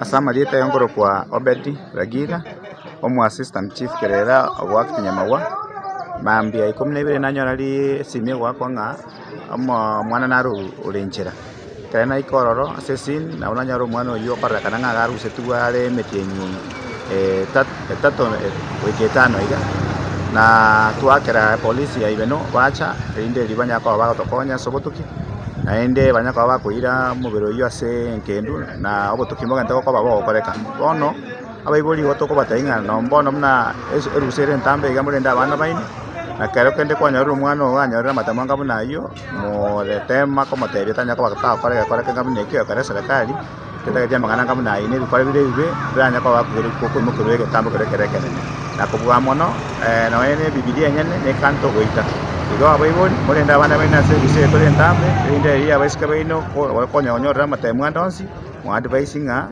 Ase amarieta aye nkorokwa Obedi Ragiga, omoassistant chief kerere ogoactinyamagwa, mambia ikomi na ibere nanyora risimio egoakwa ng'a. Omwana naro ore inchera, ekero naika ororo ase esini, nabo nanyora omwana oyio okorerekana ng'a iga arusetigwe are emetienyi etato etato goika etano iga, na twakera epolisi ya Ibeno bacha, erinde erio banyare koba bagotokonya ase obotuki, naende banyare koba bakoira omobere oyio ase egendu na obotuki mbogente gokoba bogokoreka. Bono. Abaibori igo tokobatebia ng'a nonya mbono buna erusa ere entambe iga morende abana baino, na ekero kende kwanyorire omwana ogo anyorire amatemo anga buna ayio, more tema komotebia tanya koba tagokora egekore kebe buna ekio ekero eserekari etagete amang'ana anga buna ayio na ebikore bire ebibe biranye koba bakoiborwa koimokerwa egetambe kere ekero ekenene. Na kobua mono nonya na ebibilia enyene nekanto goita. Igo abaibori morende abana baino ase erusa eye tore entambe, erinde erio ya abaiseke baino, ko bare konya konyorera amatemo ande onsi, moadvise ng'a.